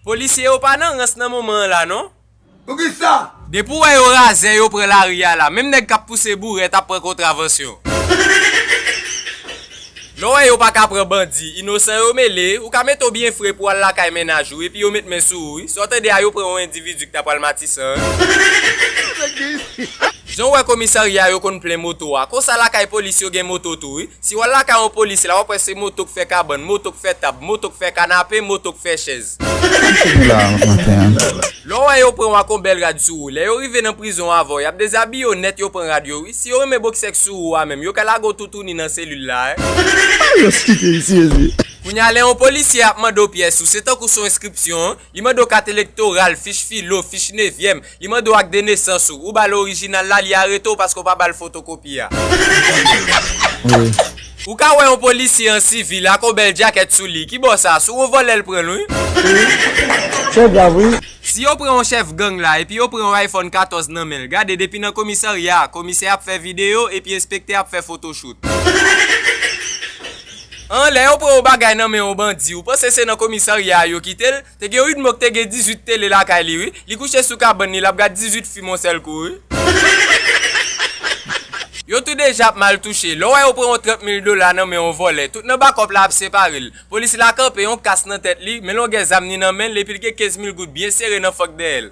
Polisye yo pa nan rans nan moman an la non. Poukisa? Depi w wè yo razè yo pran lari a la, menm nèg kap pouse bourèt ap pran kontravansyon. Lè w wè yo paka pran bandi, inosan yo mele, ou ka mete w byen fre pou w al lakay mennaj ou, epi yo met men sou ou wi. Sa w tande a yo pran yon endividi ki ta pral Matisan an. Jan w wè komisarya yo konn plen moto a, konsa lakay polis yo gen moto tou wi. Si w al lakay yon polisye la, w ap wè se moto k fè kabann, moto k fè tab, moto k fè kanape, moto k fè chèz. Ki se pou la maten an? Lè w wè yo pran w ak yon bèl rad sou ou, lè yo rive nan prizon an avè w, y ap dezabiye w nèt yo pran rad yo wi. Si yo renmen boksè k sou ou a menm, yo ka lage w toutouni nan selil la e. Alyos ki te ici Jezi? Kounye a lè yon polisye ap mande w pyès ou, se tankou s on enskripsyon, li mande w kat elektoral, fich filo, fich nevyèm, Li mande w ak de nesans ou. Ou ba l orijinal la, li arete w paske w pa ba l fotokopi a. Ou ka wè yon polisye an sivil ak yon bèl djakèt sou li. Ki bo sa? Sou yon vòlè l pran l wi. Trè grav wi. Si yo pran yon chèf gang la epi yo pran yon iPhone 14 nan men l, gade depi nan komisarya a, komisè ap fè videyo epi enspektè ap fè fotochout. An, lè yo pran yon bagay nan men yon bandi, ou panse se nan komisarya a yo kite l? Te gen yn mou k te gen 18 tele lakay li wi, li kouche sou kabann li lap gad 18 fim on sèl kou wi. Yo tou 2 jap mal touche. Lè w wè yo pran yon 30 mil dola nan men yon vòlè, tout nan bakòp la ap separe l. Polis la kanpe, yon kas nan tèt li, men longè zam ni nan men l epi l gen 15 mil goud byen sere nan fank dèyè l.